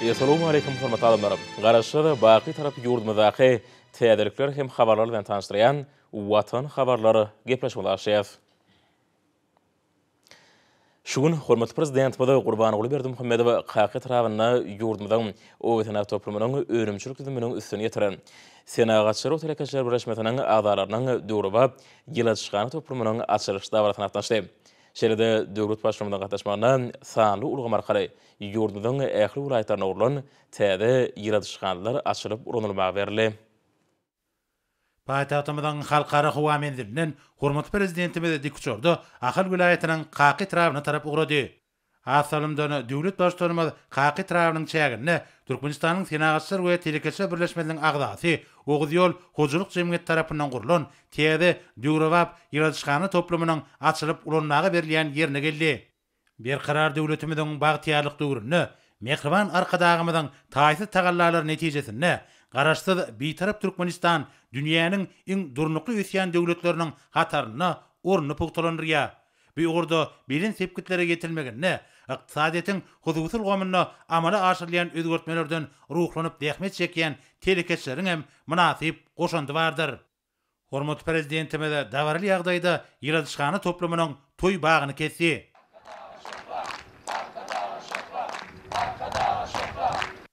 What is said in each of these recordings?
Essalamu aleýkum hormatly adamlar! Garaşsyz, baky tarapy ýurdumyzdaky täzelikler hem habarlar bilen tanyşdyrýan Watan habarlar gepleşigine başlaýarys. Şu gün hormatly Prezidentimiz Gurbanguly Berdimuhamedow Kaka etrabynda ýurdumyzyň Obasenaktoplumynyň önümçilik düzüminiň üstüni ýetiren, Senagatçylar we telekeçiler birleşmesiniň agzalarynyň döwrebap ýyladyşhana toplumynyň açylyş dabarasyna gatnaşdy. Şeýle-de döwlet Baştutanymyzyň gatnaşmagynda sanly ulgam arkaly ýurdumyzyň ähli welaýatlarynda gurlan täze ýyladyşhanalar açylyp ulanylmaga berildi. Paýtagtymyzyň Halkara howa menzilinden hormatly Prezidentimiz dikuçarda Ahal welaýatynyň Kaka etrabyna tarap ugrady. Has salymdan, döwlet Baştutanymyz Kaka etrabynyň çäginde Türkmenistanyň Senagatçylar we telekeçiler birleşmesiniň agzasy Oguzýol hojalyk jemgyýeti tarapyndan gurlan täze döwrebap ýyladyşhana toplumynyň açylyp ulanmaga berilýän ýerine geldi. Berkarar döwletimiziň bagtyýarlyk döwründe mähriban Arkadagymyzyň taýsyz tagallalary netijesinde Garaşsyz, Bitarap Türkmenistan dünýäniň iň durnukly ösýän döwletleriniň hataryna ornuny pugtalandyrýar. Bu ugurda belent sepgitlere ýetirilmeginde ykdysadyýetiň hususy ulgamynda amala aşyrylýan özgertmelerden ruhlanyp zähmet çekýän telekeçileriň hem mynasyp goşandy bardyr. Hormatly Prezidentimiz dabaraly ýagdaýda ýyladyşhana toplumynyň toý bagyny kesdi. Arkadaga şöhrat! Arkadaga şöhrat! Arkadaga şöhrat!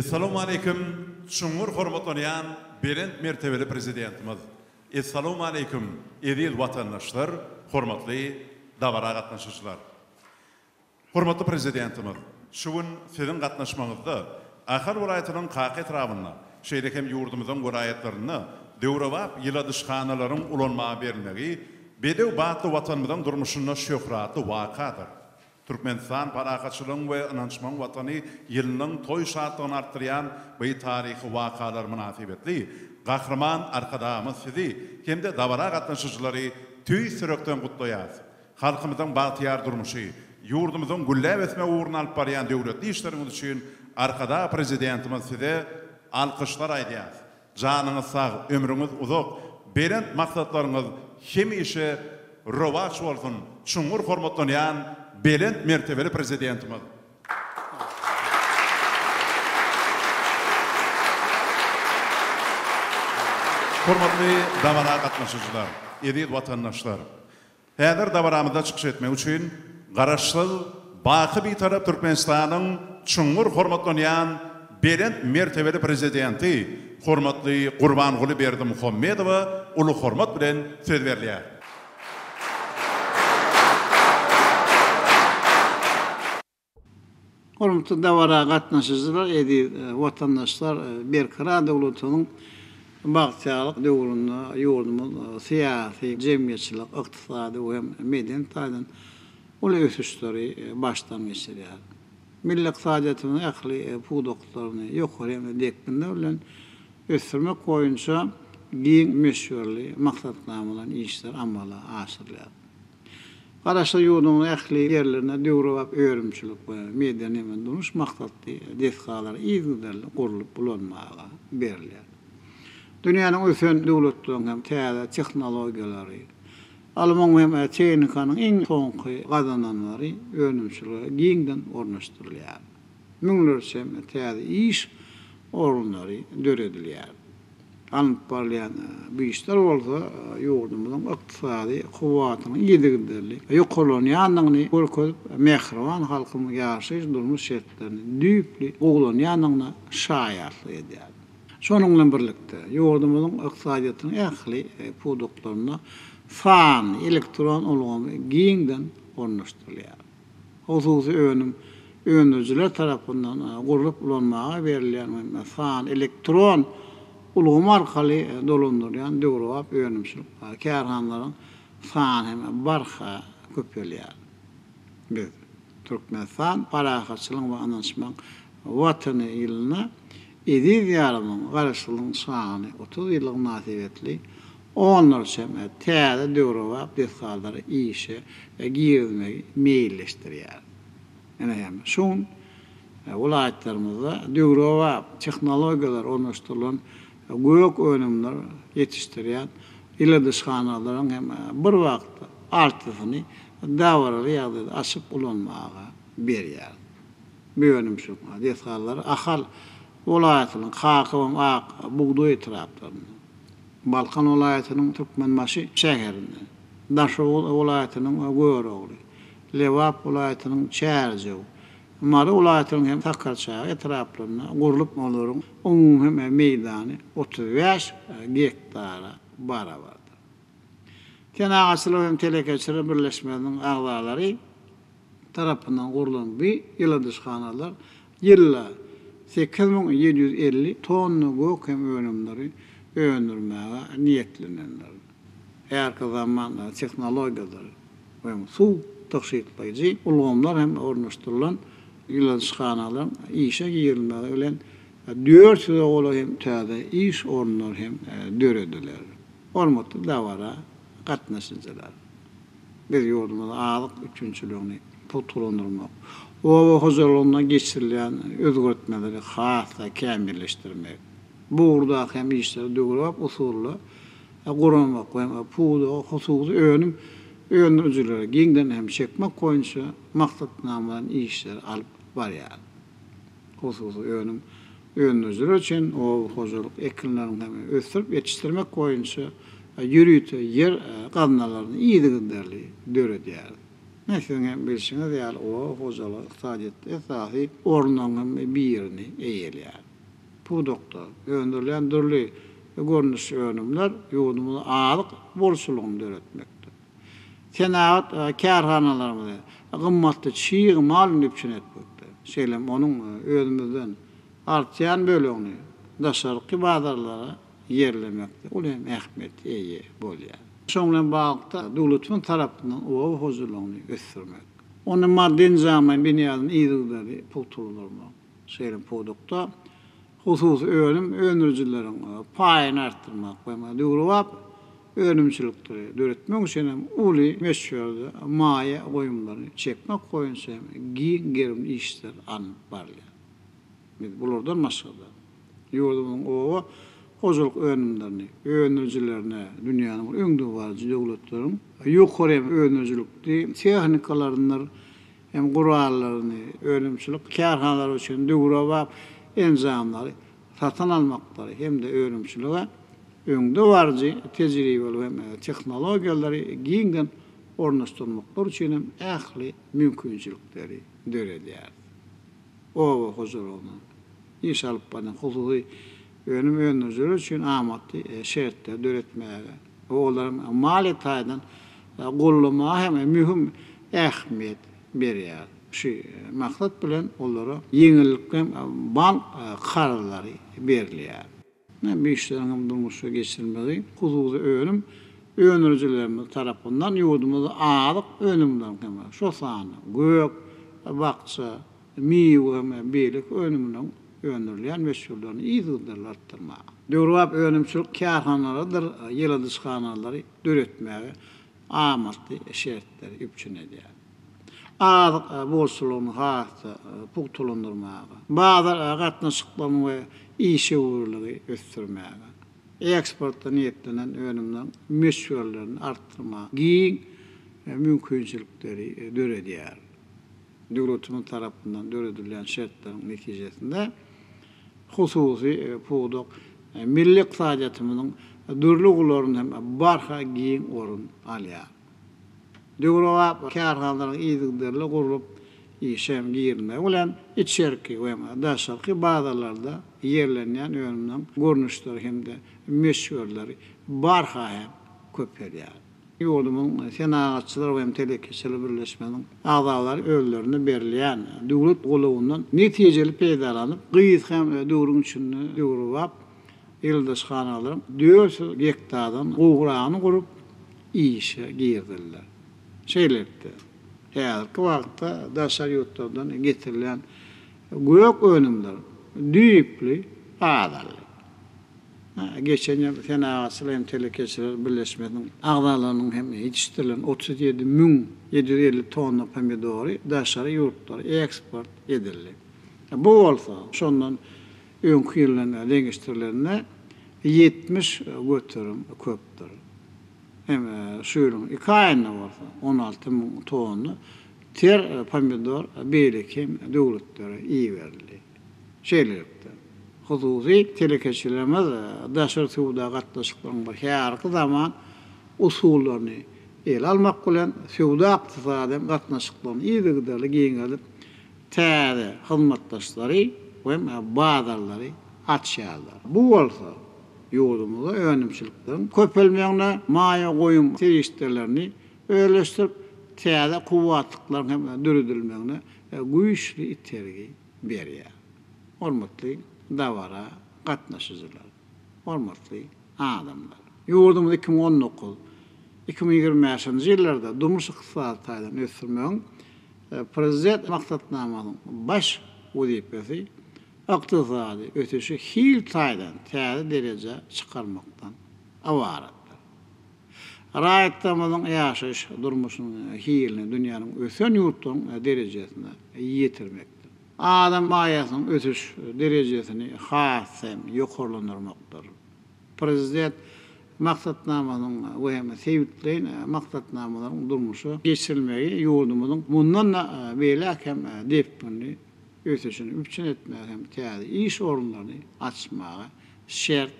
Essalowmaleýkim çuňňur hormatlanýan belent mertebeli Prezidentimiz! Essalowmaleýkim eziz watandaşlar, hormatly dabara gatnaşyjylar! Hormatly Prezidentimiz şu gün Siziň gatnaşmaňyzda Ahal welaýatynyň Kaka etrabynda, şeýle hem ýurdumyzyň welaýatlarynda döwrebap ýyladyşhanalaryň ulanmaga berilmegi bedew batly Watanymyzyň durmuşynda şöhratly wakadyr. Türkmenistan parahatçylygyň we ynanyşmagyň Watany ýylynyň toý şatlygyny artdyrýan by taryhy wakalar mynasybetli Gahryman Arkadagymyz Sizi hem-de dabara gatnaşyjylary tüýs ýürekden gutlaýar Halkymyzyň bagtyýar durmuşy, ýurdumyzyň gülläp ösmegi ugrunda alyp barýan döwletli işleriňiz üçin Arkadag Prezidentimiz Size alkyşlar aýdýarys. Janyňyz sag, ömrüňiz uzak, belent maksatlaryňyz hemişe rowaç bolsun, çuňňur hormatlanýan belent mertebeli Prezidentimiz! Hormatly dabara gatnaşyjylar, eziz watandaşlar! Häzir dabaramyzda çykyş etmek üçin Garaşsyz, baky Bitarap Türkmenistanyň çuňňur hormatlanýan belent mertebeli Prezidenti, hormatly Gurbanguly Berdimuhamedowa uly hormat bilen söz berilýär. Hormatly dabara gatnaşyjylar, eziz watandaşlar! Berkarar döwletimiziň bagtyýarlyk döwründe ýurdumyz syýasy, jemgyýetçilik, ykdysady we hem medeni taýdan uly ösüşleri başdan geçirýär. Milli ykdysadyýetimiziň ähli pudaklaryny ýokary hem-de depginler bilen ösdürmek boýunça giň möçberli maksatnamalaýyn işler amala aşyrylýar. Garaşsyz ýurduň ähli ýerlerinde döwrebap önümçilik we medeni-dunuş maksatly desgalar yzygiderli gurlup ulanmaga berilýär. Dünýäniň ösen döwletleriniň hem täze tehnologiýalary, alymyň hem tehnikanyň iň soňky gazananlary önümçilige giňden ornaşdyrylýar. Müňlerçe täze iş orunlary döredilýär. Alnyp barylýan bu işler bolsa ýurdumyzyň ykdysady kuwwatynyň yzygiderli ýokarlanýandygyny görkezip, mähriban halkymyzyň ýaşaýyş-durmuş şertlerini düýpli gowulanýandygyna şaýatlyk edýär. Şonuň bilen birlikde, ýurdumyzyň ykdysadyýetiniň ähli pudaklarynda sanly elektron ulgamy giňden ornaşdyrylýar. Hususy önüm öndürijiler tarapyndan gurlup ulanmaga berilýän we san elektron ulgamy arkaly dolandyrylýan döwrebap önümçilik bar. Kärhanalaryň sany hem barha köpelýär. Biz, Türkmenistan parahatçylygyň we ynanyşmagyň Watany ýylynda eziz Diýarymyzyň Garaşsyzlygyň şahany otuz ýyllygy mynasybetli Onlarça täze döwrebap desgalary işe girizmegi meýilleşdirýär. Ine hem şu gün welaýatlarymyzda döwrebap tehnologiýalar ornaşdyrylan gök önümler ýetişdirýän ýyladyşhanalaryň hem bir wagtda altysyny dabaraly ýagdaýda açyp ulanmaga berýäris. Bu önümçilik desgallary Ahal welaýatynyň Kakabaý, Ak bugdaý etraplarynda, Balkan welaýatynyň Türkmenbaşy şäherinde, Daşoguz welaýatynyň Görogly, Lebap welaýatynyň Çärjew, Mary welaýatynyň hem Sakarçaga etraplarynda gurlup, olaryň umumy meýdany otuz bäş gektara barabardyr. Senagatçylar hem telekeçiler birleşmesiniň agzalary tarapyndan gurlan bu ýyladyşhanalar ýylda sekiz müň ýedi ýüz elli tonna gök hem önümleri öndürmäge niýetlenendir. Härki zaman tehnologiýadyr we suw tygşytlaýjy ulgamlar hem ornaşdyrylan ýyladyşhanalaryň işe girilmegi bilen dört ýüze golaý hem täze iş orunlary hem dörediler. Hormatly dabara gatnaşyjylar! Biz ýurdumyzda azyk üpjünçiligini pugtalandyrmak, oba hojalygynda geçirilýän özgertmeleri has-da kämilleşdirmek, bu ugurdaky hem işleri döwrebap usulda guramak we pudagy hususy önüm öndürijilere giňden hem çekmek boýunça maksatnamalaýyn işleri alyp barýarys. Hususy önüm Öndürijilere çen oba hojalyk ekinlerini hem ösdürip ýetişdirmek boýunça ýörite ýer gaznalaryny yzygiderli döredýäris. Ine, siziň hem bilşiňiz ýaly, oba hojalygy ykdysadyýetde esasy orunlaryň hem birini eýeleýär. Pudakda öndürilýän dürli görnüşli önümler ýurdumyzyň azyk bolçulygyny döretmekde, Senagat kärhanalarymyzy gymmatly çig mal bilen üpjün etmekde, şeýle hem onuň özümizden artýan bölegini daşarky bazarlara ýerlemekde uly ähmiýete eýe bolýar. Şunuň bilen baglylykda, döwletimiz tarapyndan oba hojalygyny ösdürmek, onuň maddy-enjamlaýyn binýadyny yzygiderli pugtalandyrmak, şeýle hem pudakda Hususy önüm öndürijileriň paýyny artdyrmak we döwrebap önümçilikleri döretmek üçin hem uly möçberde maýa goýumlary çekmek boýunça hem giň gerimli işler alnyp barylýar. Biz bulardan başga-da, ýurdumyzyň oba hojalyk önümlerini öndürijilerine dünýäniň öňdebaryjy döwletleriň ýokary hem öndürijilikli tehnikalaryndyr hem gurallaryny, önümçilik kärhanalary üçin döwrebap enjamlary satyn almaklary hem-de önümçilige öňdebaryjy tejribeli we tehnologiýalary giňden ornaşdyrmaklary üçin hem ähli mümkinçilikleri döredýär. Oba hojalygynyň iş alyp barýan hususy önüm öndürijileri üçin amatly şertleri döretmäge, Bu olaryň maliýe taýdan goldamaga hem möhüm ähmiýet berýär. Şu maksat bilen olara ýeňillikli bank karzlary berilýär. Bu işleriň hem durmuşa geçirilmegi hususy önüm öndürijilerimiz tarapyndan ýurdumyzda azyk önümleriniň hem, şol sanda gök, bakja, miwe we beýleki önüminiň öndürilýän möçberlerini yzygiderli artdyrmaga, döwrebap önümçilik kärhanalarydyr ýyladyşhanalary döretmäge amatly şertleri üpjün edýär. Azyk bolçulygyny has-da pugtalandyrmaga, bazar gatnaşyklaryny we işewürligi ösdürmäge, eksporta niýetlenen önümleriň möçberlerini artdyrmaga giň mümkinçilikleri döredýär. Döwletimiz tarapyndan döredilýän şertleriň netijesinde hususy pudak milli ykdysadyýetimiziň dürli ugurlarynda hem barha giň orun alýar. Döwrebap kärhanalaryň yzygiderli gurlup işe girilmegi bilen içerki we daşarky bazarlarda ýerlenýän önümleriň görnüşleri hem-de möçberleri barha hem köpelýär. Ýurdumyzyň Senagatçylar we hem telekeçiler birleşmesiniň agzalary özlerine berilýän döwlet golawyndan netijeli peýdalanyp, gysga döwrüň içinde döwrebap ýyladyşhanalaryň dört ýüz gektardan gowragyny gurup, işe girizdiler. Şeýlelikde, häzirki wagtda daşary ýurtlardan getirilýän gök önümler düýpli azaldy. Geçen ýyl Senagatçylar hem telekeçiler birleşmesiniň agzalarynyň hem ýetişdirilen otuz ýedi müň ýedi ýüz elli tonna pomidory daşary ýurtlara eksport edildi. Bu bolsa, şondan öňki ýyl bilen deňeşdirilende ýetmiş göterim köpdür. Hem şu ýylyň iki aýynda bolsa on alty müň tonna ter pomidor beýleki hem döwletlere iberildi. Şeýlelikde, hususy telekeçilerimiz daşary söwda gatnaşyklarynyň bu häzirki zaman usullaryny ele almak bilen, söwda-ykdysady gatnaşyklaryny yzygiderli giňeldip, täze hyzmatdaşlary we bazarlary açýarlar. Bu bolsa ýurdumyzda önümçilikleriň köpelmegine, maýa goýum serişdelerini özleşdirip, täze kuwwatlyklaryň hem döredilmegine güýçli itergi berýär. Hormatly dabara gatnaşyjylar, hormatly adamlar! Ýurdumyzy iki müň on dokuz, iki müň ýigrimi bäşinji ýyllarda durmuş-ykdysady taýdan ösdürmegiň Prezident maksatnamasynyň baş wezipesi ykdysady ösüşi hil taýdan täze derejä çykarmakdan ybaratdyr. Raýatlarymyzyň ýaşaýyş durmuşynyň hilini dünýäniň ösen ýurtlarynyň derejesine ýetirmekdir. Adam maýasynyň ösüş derejesini has hem ýokarlandyrmakdyr. Prezident maksatnamasynyň we hem sebitleýin maksatnamalaryň durmuşa geçirilmegi ýurdumyzyň mundan-da beýläk hem depginli ösüşini üpjün etmäge hem täze iş orunlaryny açmaga şert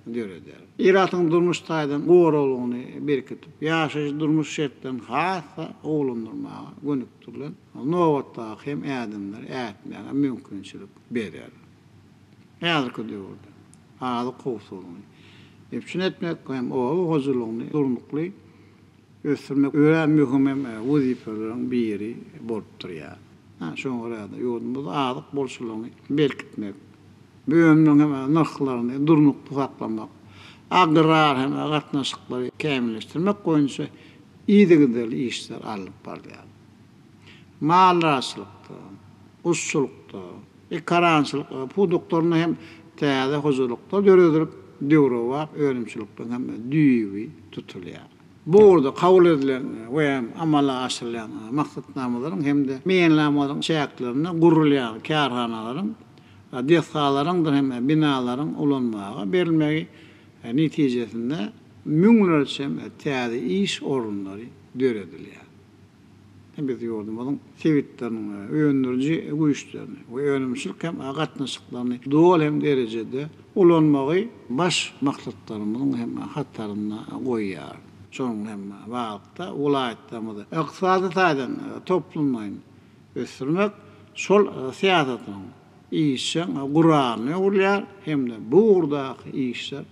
döreder. Ilatyň durmuş taýdan goraglylygyny berkidip, ýaşaýyş-durmuş şertlerini has-da gowulandyrmaga gönükdirilen nobatdaky hem ädimleri ätmäge mümkinçilik berer. Häzirki döwürde azyk howpsuzlygyny üpjün etmek hem oba hojalygyny durnukly ösdürmek örän möhüm hem wezipeleriň biri bolup durýar. Şoňa görä-de, ýurdumyzda azyk bolçulygyny berkitmek, bu önümiň hem nyrhlaryny durnukly saklamak, agrar hem gatnaşyklary kämilleşdirmek boýunça yzygiderli işler alnyp barylýar. Maldarçylykda, guşçulykda, ekarançylyk pudaklarynda hem täze hojalyklar döredilip, döwrebap önümçilikligiň hem düýbi tutulýar. Bu ugurda kabul edilen we amala aşyrylýan maksatnamalaryň hem-de meýilnamalaryň çäklerinde gurulýan kärhanalaryň, desgalaryňdyr hem binalaryň ulanmaga berilmegi netijesinde müňlerçe täze iş orunlary döredilýär. Biz ýurdumyzyň sebitleriniň öndüriji güýçlerini we önümçilik hem gatnaşyklaryny doly hem derejede ulanmagy baş maksatlarymyzyň hem hatarynda goýýar. Şonuň hem baglylykda, welaýatlarymyzy ykdysady taýdan toplumlaýyn ösdürmek şol syýasatyň işjeň guralyna öwrülýär hem-de bu ugurdaky işler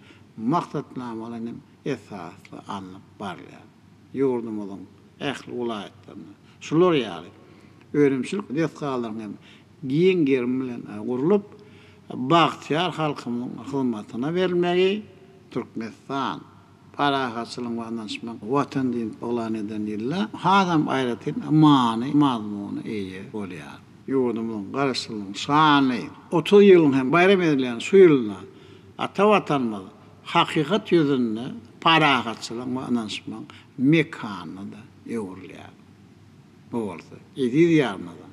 maksatnamalaýyn hem esasly alnyp barylýar. Ýurdumyzyň. ähli welaýatlarynda şular ýaly önümçilik desgalaryň hem giň gerim bilen gurlup, bagtyýar halkymyzyň hyzmatyna berilmegi Türkmenistan Parahatçylygyň we ynanyşmagyň Watany diýip yglan eden ýylda hasam aýratyn many-mazmuna eýe bolýar. Ýurdumyzyň Garaşsyzlygynyň şanly otuz ýylyny hem baýram edilýän şu ýylda ata Watanymyz hakykat ýüzünde parahatçylygyň we ynanyşmagyň mekanyna-da öwrülýär. Bu bolsa eziz ýarymada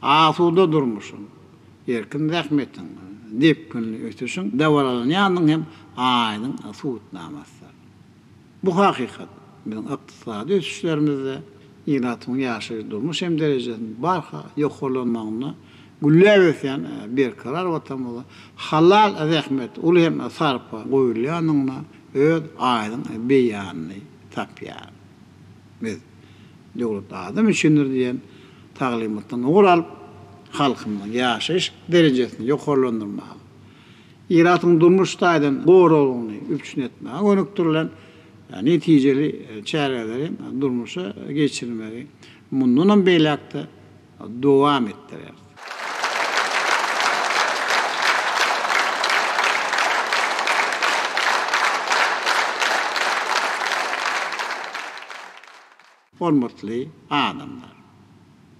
asuda durmuşyň, erkin zähmetiň, depginli ösüşiň dabaralanýandygynyň hem aýdyň subutnamasydyr. Bu hakykat biziň ykdysady ösüşlerimizde ilatymyzyň ýaşaýyş-durmuş hem derejesiniň barha ýokarlanmagynda gülläp ösýän berkarar Watanymyzda halal zähmet, uly hem sarpa goýulýandygyna öz aýdyň beýanyny tapýar. Biz Döwlet adam üçindir diýen taglymatdan ugur alyp, halkymyzyň ýaşaýyş derejesini ýokarlandyrmaga, ilatyň durmuş taýdan goraglygyny üpjün etmäge gönükdirilen netijeli çäreleri durmuşa geçirmegi mundanam beýläk-de dowam etdirer. Hormatly adamlar!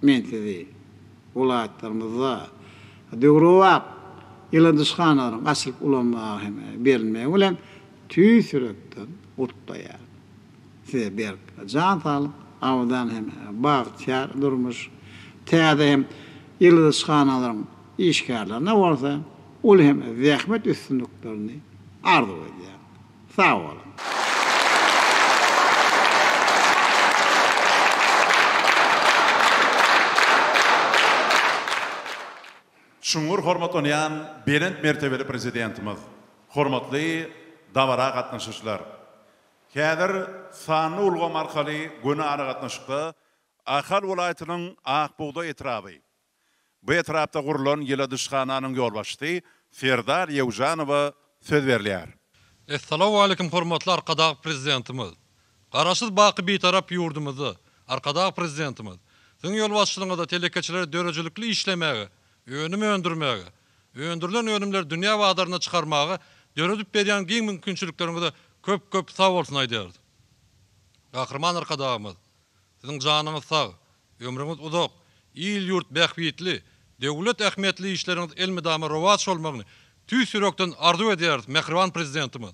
Men sizi welaýatlarymyzda döwrebap ýyladyşhanalaryň açylyp ulanmaga hem berilmegi bilen tüýs ýürekden gutlaýaryn. Size berk jan saglyk, abadan hem bagtyýar durmuş, täze hem ýyldyzhanalaryň işgärlerine bolsa uly hem zähmet üstünliklerini arzuw edýän. Sag boluň! Çuňňur hormatlanýan Belent mertebeli Prezidentimiz, hormatly dabara gatnaşyjylar! Häzir sanly ulgam arkaly göni aragatnaşykda Ahal welaýatynyň Akbugdaý etraby. Bu etrapda gurlan ýyladyşhananyň ýolbaşçysy Serdar Ýewjanowa söz berilýär. Essalawwaleýkim hormatly Arkadag Prezidentimiz! Garaşsyz baky Bitarap ýurdumyzda Arkadag Prezidentimiz Siziň ýolbaşçylygyňyzda telekeçilere döredijilikli işlemäge, önüm öndürmäge, Öndürilen önümleri dünýä bazaryna çykarmaga döredip berýän giň mümkinçilikleriňize köp köp sag bolsun aýdýarys. Gahryman Arkadagymyz, Siziň janyňyz sag, ömrüňiz uzak, il-ýurt bähbitli, döwlet ähmiýetli işleriňiz elmydama rowaç bolmagyny tüýs ýürekden arzuw edýäris Mähriban Prezidentimiz.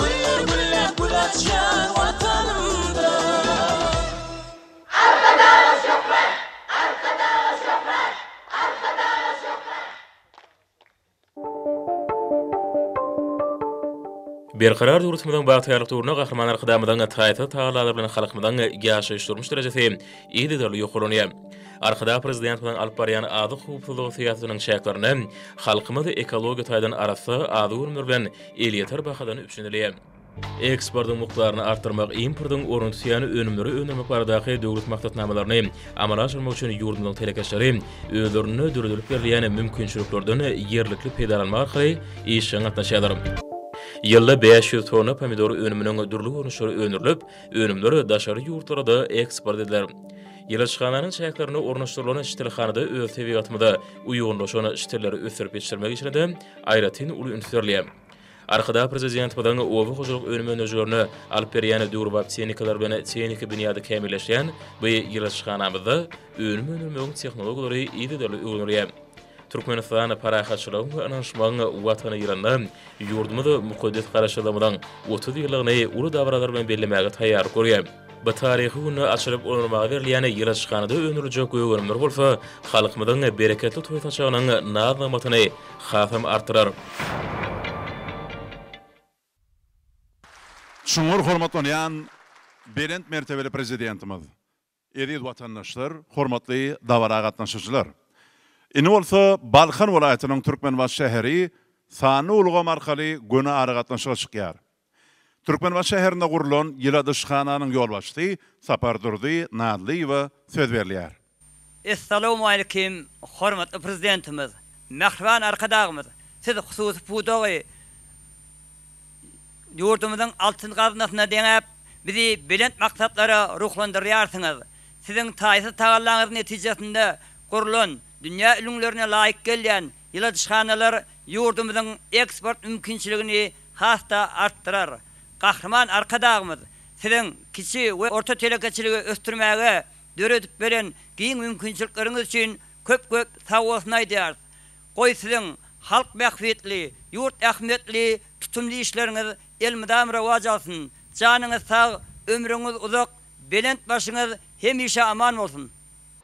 Güller güllep gül açýan Watanymda. Arkadaga şöhrat! Arkadaga şöhrat! Arkadaga şöhrat! Berkarar ýurtymyzyň bagtyýarlyk döwründe Gahryman Arkadagymyzyň taýsyz tagallalary bilen halkymyzyň ýaşaýyş-durmuş derejesi yzygiderli ýokarlanýar. Arkadag Prezidentimiziň alyp barýan azyk howpsuzlygy syýasatynyň çäklerinde halkymyz ekologiýa taýdan arassa azyk önümleri bilen elýeter bahadan üpjün edilýär. Eksportyň mukdaryny artdyrmak, importyň ornuny tutýan önümleri öndürmek baradaky döwlet maksatnamalaryny amala aşyrmak üçin ýurdumyzyň telekeçileri özlerinde döredilip berilýän mümkinçiliklerden ýerlikli peýdalanmak arkaly işjeň gatnaşýarlar. Ýylda bäş ýüz tonna pomidor önüminiň dürli görnüşleri öndürilip, önümler daşary ýurtlara-da eksport ediler. Ilaçhananyň çäklerinde ornaşdyrylan ştilhanada öz tebigatymyza uýgunlaşan ştilleri ösdürip ýetişdirmek işine-de aýratyn uly üns berilýär. Arkadag Prezidentimiziň oba hojalyk önüm öndürijilerine alyp berýän döwrebap tehnikalary bilen tehniki binýady kämilleşýän bu ýyladyşhanamyzda önüm öndürmegiň tehnologiýalary yzygiderli öwrenilýär. Türkmenistan parahatçylygyň we ynanyşmagyň Watany ýylynda ýurdumyz mukaddes Garaşsyzlygymyzyň otuz ýyllygyny uly dabaralar bilen bellemäge taýýarlyk görýär. Bu taryhy günde açylyp ulanmaga berilýän ýylaçhanada öndüriljek gögeriimler bolsa halkymyzyň bereketli toý saçagynyň naz-nygmatyny hasam artdyrar. Çuňňur hormatlanýan Belent mertebeli Prezidentimiz, eziz watandaşlar, hormatly dabara gatnaşyjylar! Indi bolsa Balkan welaýatynyň Türkmenbaşy şäheri sanly ulgam arkaly göni aragatnaşyga çykýar. Türkmenbaşy şäherinde gurlan ýyladyşhananyň ýolbaşçysy Sapardurdy Nalyýewa söz berilýär. Essalawmalikim hormatly Prezidentimiz, mähriban Arkadagymyz siz hususy pudagy ýurdumyzyň altyn gaznasyna deňäp, bizi belent maksatlara ruhlandyrýarsyňyz. Siziň taýsyz tagallaňyz netijesinde gurlan dünýä ülňülerine laýyk gelýän ýyladyşhanalar ýurdumyzyň eksport mümkinçiligini has-da artdyrar. Gahryman Arkadagymyz Siziň kiçi we orta telekeçiligi ösdürmäge döredip beren giň mümkinçilikleriňiz üçin köp-köp sag bolsun aýdýarys. Goý Siziň halk bähbitli, ýurt ähmiýetli tutumly işleriňiz elmydam rowaç alsyn! Janyňyz sag, ömrüňiz uzak, belent başyňyz hemişe aman bolsun!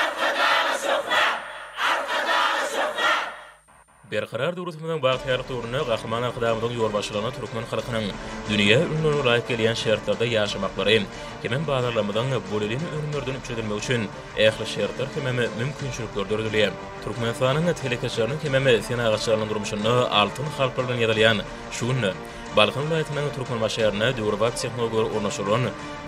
Arkadaga söhbe! Arkadaga söhbe! Berkarar döwletimiziň bagtyýarlyk döwründe Gahryman Arkadagymyzyň ýolbaşçylygynda türkmen halkynyň dünýä ülňülerine laýyk gelýän şertlerde ýaşamaklary hemem bazarlarymyzyň bolelin önümlerden üpjün edilmegi üçin ähli şertler hemem mümkinçilikler döredilýär. Türkmenistanyň telekeçileriniň hemem senagatçylarynyň durmuşynda altyn harplar bilen ýazylýan şu günde Balkan welaýatynyň Türkmenbaşy şäherinde döwrebap tehnologiýalar ornaşdyrylan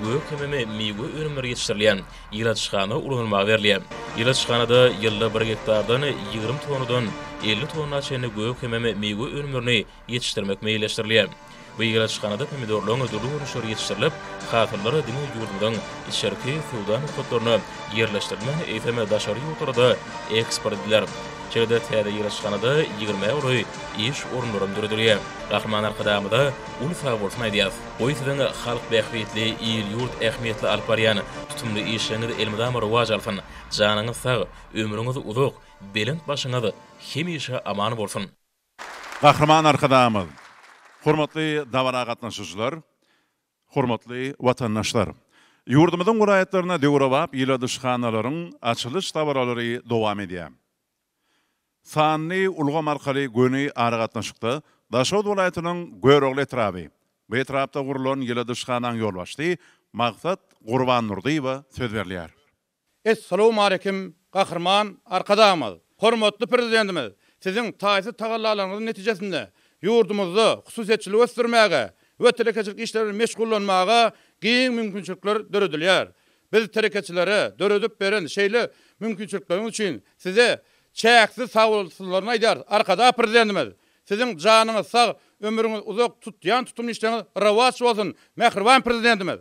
gök hemem miwe önümleri ýetişdirilýän ýyladyşhana ulanylmaga berilýär. Ýyladyşhanada ýylda bir gektardan ýigrimi tonnadan elli tonna çenli gök hemem miwe önümlerini ýetişdirmek meýilleşdirilýär. Bu ýyladyşhanada pomidorlaryň dürli görnüşleri ýetişdirilip, hasyllar diňe ýurdumyzyň içerki söwda nokatlaryna ýerleşdirilmän, eýsem, daşary ýurtlara-da eksport ediler. Şeýle-de täze ýyladyşhanada ýigrimä golaý iş orunlaram döredilýär. Gahryman Arkadagymyza uly sagbolsun aýdýarys! Goý siziň halk bähbitli, il-ýurt ähmiýetli alyp barýan tutumly işleriňiz elmydama rowaç alsyn! Janyňyz sag, ömrüňiz uzak, belent başyňyz hemişe aman bolsun! Gahryman Arkadagymyz, hormatly dabara gatnaşyjylar, hormatly watandaşlar! Ýurdumyzyň welaýatlarynda döwrebap ýyladyşhanalaryň açylyş dabaralary dowam edýär. Sanly ulgam arkaly göni aragatnaşykda Daşoguz welaýatynyň Görogly etraby we etrapda gurlan ýyladyşhanaň ýolbaşçysy Magsat Gurbandurdyýewa söz berilýär. Essalawmaleýkim, Gahryman Arkadagymyz! Hormatly Prezidentimiz Siziň taýsyz tagallalaryňyzyň netijesinde ýurdumyzda hususyýetçiligi ösdürmäge we telekeçilik işleri bilen meşgullanmaga giň mümkinçilikler döredilýär. Biz telekeçilere döredip beren şeýle mümkinçilikleriňiz üçin Size çäksiz sagbolsunlaryny aýdýarys. Arkadagly Prezidentimiz Siziň janyňyz sag, ömrüňiz uzak, tutýan tutumly işleriňiz rowaç bolsun, mähriban Prezidentimiz!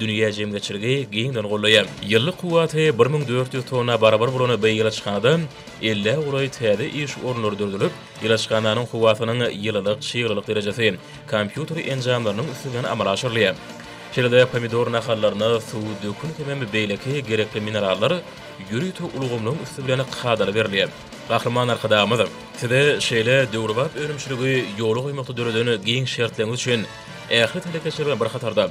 Dünýä jemgyýetçiligi giňden goldaýar. Ýyllyk kuwwaty bir müň dört ýüz tonna barabar bolan bu ilaçhanada elli golaý täze iş orunlary döredilip, ilaçhananyň kuwwatynyň ýylylyk, çyglylyk derejesi kompýuter enjamlarynyň üstünden amala aşyrylýar. Şeýle-de pomidor nahallaryna suw, dökün hemem beýleki gerekli minerallar ýörite ulgamlaryň üsti bilen kadaly berilýär. Gahryman Arkadagymyz Size şeýle döwrebap önümçiligi ýola goýmakda döreden giň şertleňiz üçin ähli telekeçiler bilen bir hatarda,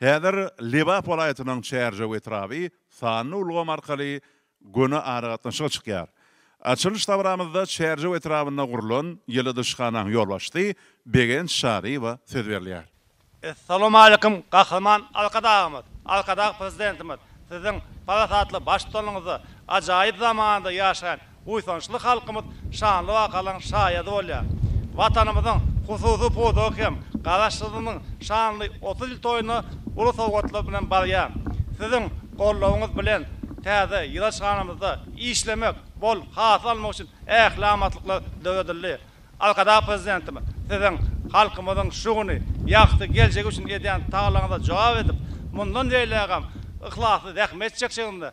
Häzir Lebap welaýatynyň Çärjew etraby sanly ulgam arkaly göni aragatnaşyga çykýar. Açylyş dabramyzda Çärjew etrabynda gurlan ýyladyşhanaň ýolbaşçysy Begenç Çaryýewa söz berilýär. Essalamualeýkum Gahryman Arkadagymyz, Arkadag Prezidentimiz Siziň parasatly baştutanyňyzda ajaýyp zamanda ýaşaýan buýsançly halkymyz şanly wakalaryň şaýady bolýar. Watanymyzyň hususy pudagy hem Garaşsyzlygynyň şanly otuz ýyl toýuna uly sowgatlar bilen barýar. Siziň goldawyňyz bilen täze ýylaçhanamyzda işlemek, bol hasyl almak üçin ähli amatlyklar döredildi. Arkadag Prezidentimiz Siziň halkymyzyň şu güni, ýagty geljegi üçin edýän tagalaňyza jogap edip, mundan beýlägem yhlasly zähmet çekjegiňize,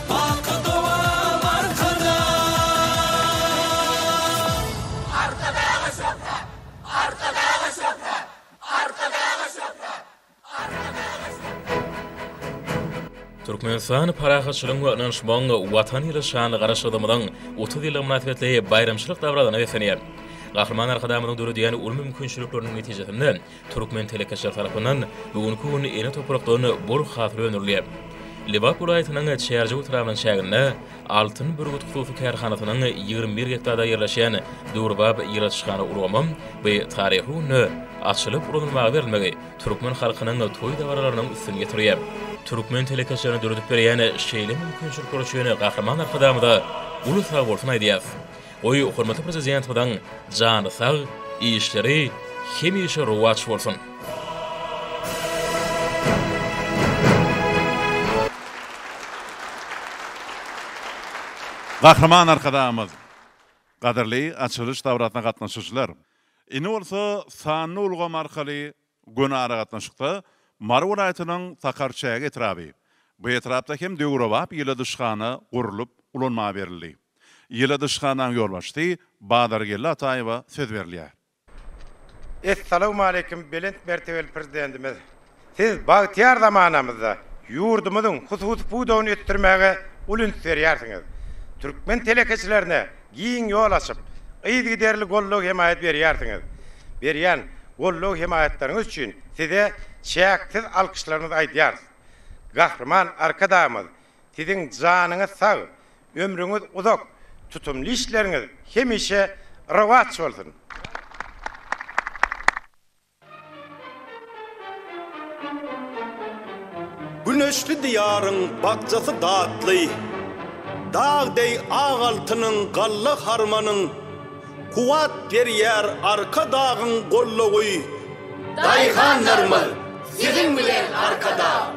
Baky dowam Arkadaglar! Türkmenistany parahatçylygyň we ynanyşmagyň Watany ýyly şanly Garaşsyzlygymyzyň otuz ýyllygy mynasybetli baýramçylyk dabarasyna beslenýär. Gahryman Arkadagymyzyň döredýän uly mümkinçilikleriniň netijesinde, Türkmen telekeçileri tarapyndan bu günki gün ene toprakdan bol hasyl öndürilýär. Lebap welaýatynyň Çärjew etrabynyň çäginde Altyn bürgüt hususy kärhanasynyň ýigrimi bir gektarda ýerleşýän döwrebap ýyladyşhana ulgamy bu taryhy günde açylyp ulanylmaga berilmegi türkmen halkynyň toý-dabaralarynyň üstüni ýetirýär. Türkmen telekeçilerine döredip berýän şeýle mümkinçilikler üçin Gahryman Arkadagymyza uly sagbolsun aýdýarys. Goý hormatly Prezidentimiziň jany sag, işleri hemişe rowaç bolsun! Gahryman Arkadagymyz! Gadyrly açylyş dabrasyna gatnaşyjylar! Indi bolsa sanly ulgam arkaly Göni aragatnaşykda Mary welaýatynyň Sakarçäge etraby. Bu etrapda hem döwrebap ýyladyşhana gurlup, ulanma berildi. Ýyladyşhanaň ýolbaşçysy Bazargeldi Ataýewa söz berilýär. Essalawmaleýkim Belent mertebeli Prezidentimiz! Siz bagtyýar zamanamyzda ýurdumyzyň hususy pudagyny ösdürmäge uly üns berýärsiňiz. Türkmen telekeçilerine giň ýol açyp, yzygiderli goldaw-hemaýat berýärsiňiz. Berýän goldaw-hemaýatlaryňyz üçin Size çäksiz alkyşlarymyzy aýdýarys. Gahryman Arkadagymyz, Siziň janyňyz sag, ömrüňiz uzak, tutumly işleriňiz hemişe rowaç bolsun! Güneşli Diýaryň bakjasy datly, Dag deý ak altynyň galla harmanyň Kuwwat berýär Arkadagyň gollugy. Daýhanlarymyz siziň bilen Arkadag!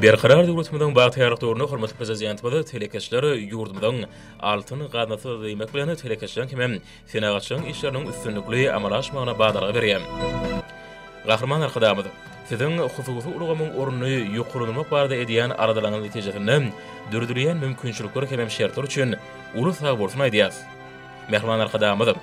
Berkarar döwletimiziň bagtyýarlyk döwründe hormatly Prezidentimiz telekeçileri ýurdumyzyň altyn gaznasy diýmek bilen, telekeçiligiň hem-ä senagatçylygyň işleriniň üstünlikli amala aşmagyna badalga berýär. Gahryman Arkadagymyz, Siziň hususy ulgamyň ornuny ýokarlandyrmak barada edýän aladalaryňyz netijesinde döredilýän mümkinçilikler hem-ä şertler üçin uly sagbolsun aýdýarys. Mähriban Arkadagymyz!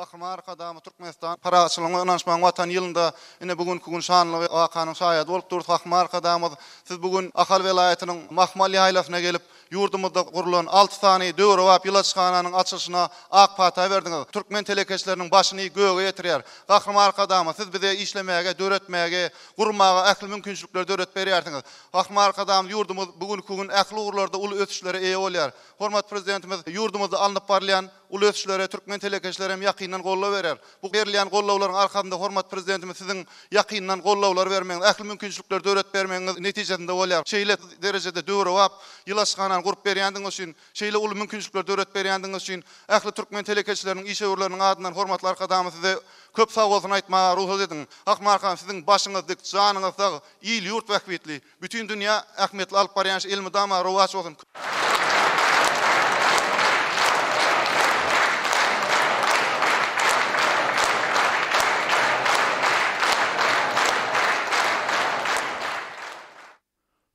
Gahryman Arkadagymyz Türkmenistan parahatçylygyň we ynanyşmagyň Watany ýylynda ine bu günki gün şanly wakanyň şaýady bolup durus. Gahryman Arkadagymyz, siz bu gün Ahal welaýatynyň Mahmal ýaýlasyna gelip, ýurdumyzda gurlan alty sany döwrebap ýyladyşhananyň açylyşyna ak pata berdiňiz. Türkmen telekeçileriniň başyny göge ýetirýär. Gahryman Arkadagymyz, siz bize işlemäge, döretmäge, gurmaga ähli mümkinçilikleri döredip berýärsiňiz. Gahryman Arkadagymyz, ýurdumyz bu günki gün ähli ugurlarda uly ösüşlere eýe bolýar. Hormatly Prezidentimiz ýurdumyzda alnyp barylýan, Uly ösüşlere türkmen telekeçileri hem ýakyndan goldaw berer. Bu berilýän goldawlaryň arkasynda hormatly Prezidentimiz siziň ýakyndan goldawlar bermegiňiz, ähli mümkinçilikleri döredip bermegiňiz netijesinde bolýar. Şeýle derejede döwrebap ýylaçhanany gurup berýändigiňiz üçin, şeýle uly mümkinçilikleri döredip berýändigiňiz üçin ähli türkmen telekeçileriniň, işewürleriniň adyndan hormatly Arkadagymyz size köp sagbolsun aýtmaga rugsat ediň. Akmyrat han, siziň başyňyz dik, janyňyz sag, il-ýurt bähbitli! Bütin dünýä ähmiýetli alyp barýan iş elmydama rowaç bolsun!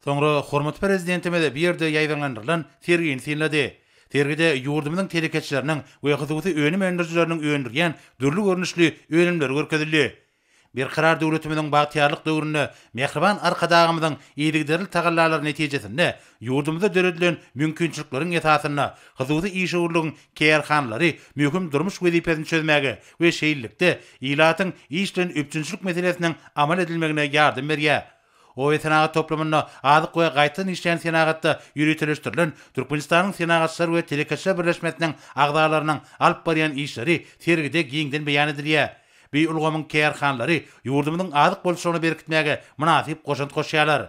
Soňra hormatly Prezidentimiz bu ýerde ýaýbaňlandyrylan sergini synlady. Sergide ýurdumyzyň telekeçileriniň we hususy önüm öndürijileriniň öndürýän dürli görnüşli önümleri görkezildi. Berkarar döwletimiziň bagtyýarlyk döwründe mähriban Arkadagymyzyň yzygiderli tagallalary netijesinde ýurdumyzda döredilen mümkinçilikleriň esasynda hususy işewürligiň kärhanalary möhüm durmuş wezipesini çözmäge we şeýlelikde ilatyň iş bilen üpjünçilik meselesiniň amal edilmegine ýardam berýär. Oýesenagat toplumynda azyk we gaýtadan işleýän senagatda ýöriteleşdirilen Türkmenistanyň Senagatçylar we telekeçiler birleşmesiniň agzalarynyň alyp barýan işleri sergide giňden beýan edilýär. Bi ulgamyň kärhanalary ýurdumyzyň azyk bolçulygyny berkitmäge mynasyp goşant goşýarlar.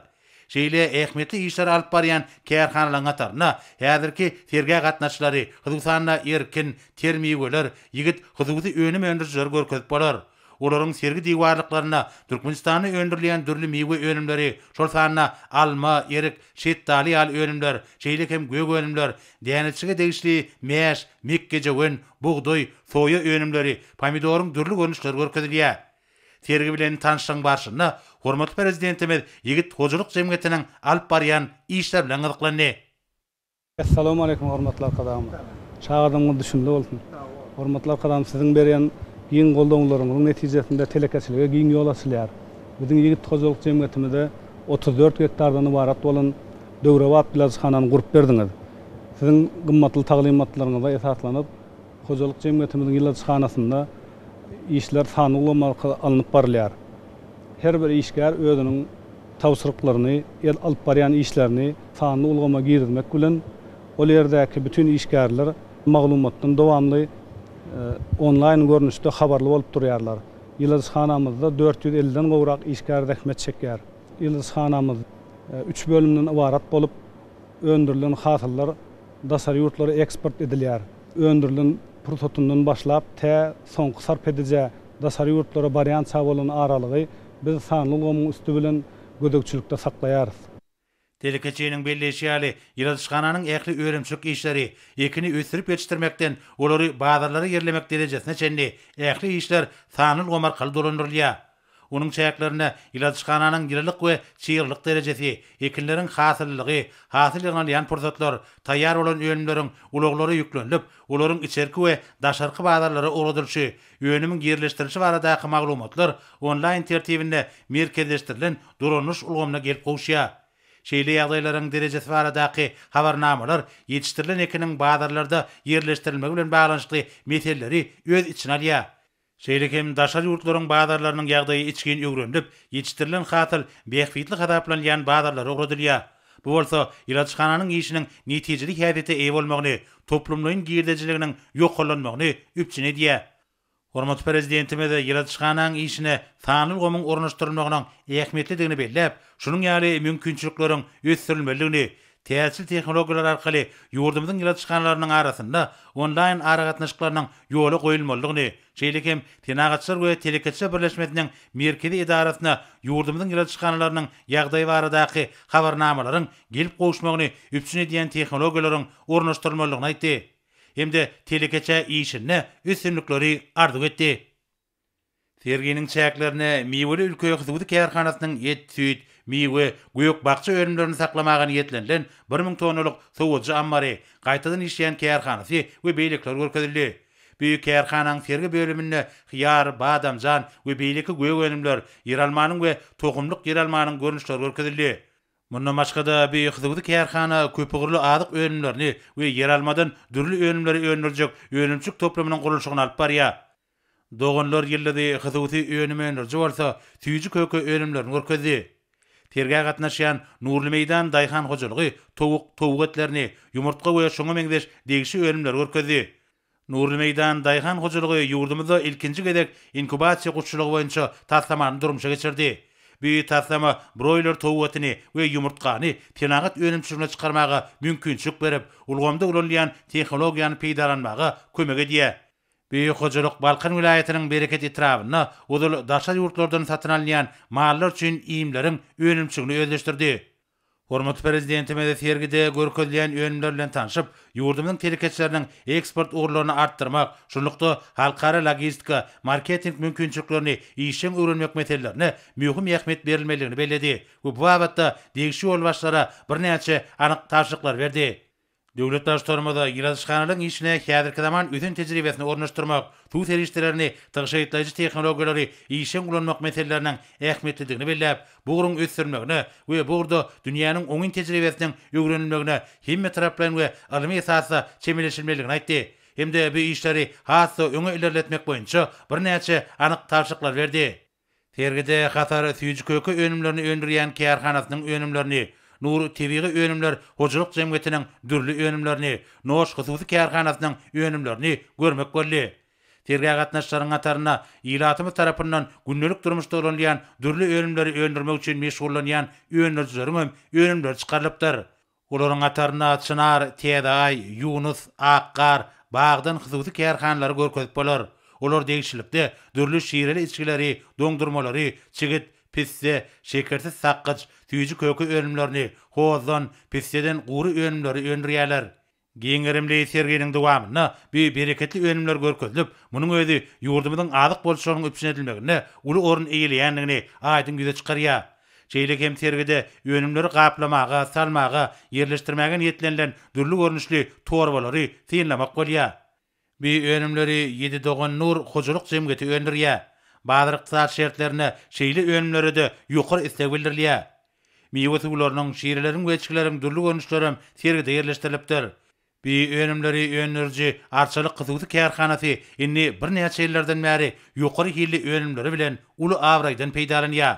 Şeýle ähmiýetli işleri alyp barýan kärhanalaryň hatarynda häzirki sergä gatnaşyjylary, hususan-da, Erkin, Ter miweler, Ýigit hususy önüm öndürijileri görkezip bolar. Olaryň sergi diwarlyklarynda Türkmenistanda öndürilýän dürli miwe önümleri, şol sanda alma, erik, şetdaly ýaly önümler, şeýle hem gök önümler, däneçige degişli mäş, mekgejöwen, bugdaý, soýa önümleri, pomidoryň dürli görnüşleri görkezilýär. Sergi bilen tanyşlygyň barşynda hormatly Prezidentimiz ýigit hojalyk jemgyýetiniň alyp barýan işleri bilen gyzyklandy. Essalamu aleýkum hormatly arkadagym. Çagadaňyz düşümli bolsun. Hormatly arkadagym siziň berýän giň goldawlaryňyzyň netijesinde telekeçilige giň ýol açylýar. Biziň ýigit hojalyk jemgyýetimizde otuz dört gektardan ybarat bolan döwrebap ilajhanany gurup berdiňiz. Siziň gymmatly taglymatlaryňyza esaslanyp, Hojalyk jemgyýetimiziň ýyladyşhanasynda işler sanly ulgam arkaly alnyp barylýar. Her bir işgär özüniň tabşyryklaryny, el alyp barýan işlerini sanly ulgama girizmek bilen, ol ýerdäki bütin işgärler maglumatdan dowamly onlaýn görnüşde habarly bolup durýarlar. Ýyladyşhanamyzda dört ýüz elli den gowrak işgär zähmet çekýär. Ýyladyşhanamyz üç bölümden ybarat bolup, öndürilen hasyllar daşary ýurtlara eksport edilýär. öndürilen pursatyndan başlap tä soňky sarp edijä daşary ýurtlara barýança bolan aralygy biz sanly ulgamyň üsti bilen gözegçilikde saklaýarys. Telekeçiniň belleýşi ýaly, ýyladyşhananyň ähli önümçilik işleri, ekini ösdürip ýetişdirmekden olary bazarlara ýerlemek derejesine çenli ähli işler sanly ulgam arkaly dolandyrylýar. Onuň çäklerinde iladyşhananyň ýylylyk we çygrylyk derejesi, ekinleriň hasyllylygy, hasyl ýygnalýan pursatlar, taýýar bolan önümleriň ulaglara ýüklenilip, olaryň içerki we daşarky bazarlara ugradylyşy, önümiň ýerleşdirilişi baradaky maglumatlar onlaýn tertibinde merkezleşdirilen dolandyryş ulgamyna gelip gowuşýar. Şeýle ýagdaýlaryň derejesi baradaky habarnamalar ýetişdirilen ekiniň bazarlarda ýerleşdirilmegi bilen baglanyşykly meseleleri öz içine alýar. Şeýle hem daşary ýurtlaryň bazarlarynyň ýagdaýy içgin öwrenilip, ýetişdirilen hasyl bähbitli hasaplanylýan bazarlara ugradylýar. Bu bolsa ilaçhananyň işiniň netijeli häsiýete eýe bolmagyny, toplumlaýyn girdejiliginiň ýokarlanmagyny üpjün edýär. Hormatly Prezidentimiz ilaçhananyň işine sanly ulgamyň ornaşdyrylmagynyň ähmiýetlidigini belläp, şunuň ýaly mümkinçilikleriň ösdürilmelidigini, Täjir tehnologiýalar arkaly ýurdumyzyň ýyla çykanlarynyň arasynda onlaýn aragatnaşyklarynyň ýola goýulmalydygyny, şeýle hem Senagatçylar we telekeçiler birleşmesiniň Merkezi edarasyna ýurdumyzyň ýyla çykanlarynyň ýagdaýy baradaky habarnamalaryň gelip gowuşmagyny üpjün edýän tehnologiýalaryň ornaşdyrylmalydygyny aýtdy hem-de telekeçä işinde üstünlikleri arzuw etdi. Serginiň çäklerinde Miweli ülke hususy kärhanasynyň et, süýt, miwe, gök-bakja önümlerini saklamaga niýetlenilen bir müň tonnalyk sowujy ammary, gaýtadan işleýän kärhanasy we beýlekiler görkezildi. Bu kärhananyň sergi bölüminde hyýar, badamjan we beýleki gök önümler, ýeralmanyň we tohumlyk ýeralmanyň görnüşleri görkezildi. Mundan başga-da, bu hususy kärhana köpugurly azyk önümlerini we ýeralmadan dürli önümleri öndürjek önümçilik toplumynyň gurluşygyny alyp barýar. Doganlar ýyldyzy hususy önüm öndüriji bolsa süýji köke önümlerini görkezdi. Sergä gatnaşýan Nurly meýdan daýhan hojalygy towuk, towuk etlerini, ýumurtga we şoňa meňzeş degişi önümleri görkezdi. Nurly meýdan daýhan hojalygy ýurdumyzda ilkinji gezek inkubasiýa guşçulygy boýunça taslamany durmuşa geçirdi. Bu taslama broýler towuk etini we ýumurtgany senagat önümçiligine çykarmaga mümkinçilik berip, ulgamda ulanylýan tehnologiýany peýdalanmaga kömek edýär. Beýik hojalyk Balkan welaýatynyň Bereket etrabynda ozal daşary ýurtlardan satyn alynýan mallar üçin iýmleriň önümçigini özleşdirdi. Hormatly Prezidentimiz sergide görkezilýän önümler bilen tanşyp, ýurdumyzyň telekeçileriniň eksport ugurlaryny artdyrmak, şunlukda, halkara logistika, marketing mümkinçiliklerini işjeň öwrenmek meselelerine möhüm ähmiýet berilmelidigini belledi we bu babatda degişli ýolbaşçylara birnäçe anyk tabşyryklar berdi. Döwlet Baştutanymyz ilatyşhanalaryň işine häzirki zaman ösen tejribesini ornaşdyrmak, suw serişdelerini tygşytlaýjy tehnologiýalary işjeň ulanmak meseleleriniň ähmiýetlidigini belläp, bu ugruň ösdürilmegine we bu ugurda dünýäniň oňyn tejribesiniň öwrenilmegine hemmetaraplaýyn we ylmy esasda çemeleşilmelidigini aýtdy hem-de bu işleri has-da öňe ilerletmek boýunça birnäçe anyk tabşyryklar berdi. Sergide Hatar süýji-köke önümlerini öndürýän kärhanasynyň önümlerini, Nur tebigy önümler hojalyk jemgyýetiniň dürli önümlerini, Noş hususy kärhanasynyň önümlerini görmek boldy. Sergä gatnaşyjylaryň hatarynda ilatymyz tarapyndan gündelik durmuşda ulanylýan dürli önümleri öndürmek üçin meşgullanýan öndürijileriň hem önümleri çykarylypdyr. Olaryň hatarynda Çynar, Täze Aý, Ýunus, Ak gar, Bagdan hususy kärhanalary görkezip bolar. Olar degişlilikde dürli şireli içgileri, doňdurmalary, çigit, pisse, şekersiz sakgyç, süýji köke önümlerini, hozdan, pisseden gury önümleri öndürýärler. Giň gerimli serginiň dowamynda bu bereketli önümler görkezilip, munuň özi ýurdumyzyň azyk bolçulygynyň üpjün edilmeginde uly orun eýeleýändigini aýdyň ýüze çykarýar. Şeýle hem sergide önümleri gaplamaga, salmaga, ýerleşdirmäge niýetlenilen dürli görnüşli torbalary synlamak bolýar. Bu önümleri Ýedi dogan Nur hojalyk jemgyýeti öndürýär. Bazar-ykdysady şertlerinde şeýle önümlere-de ýokary isleg bildirilýär. Miwe suwlarynyň, şireleriň we içgileriň dürli görnüşlerem sergide ýerleşdirilipdir. Bi önümleri öndüriji Arçalyk hususy kärhanasy indi birnäçe ýyllardan bäri ýokary hilli önümleri bilen uly abraýdan peýdalanýar.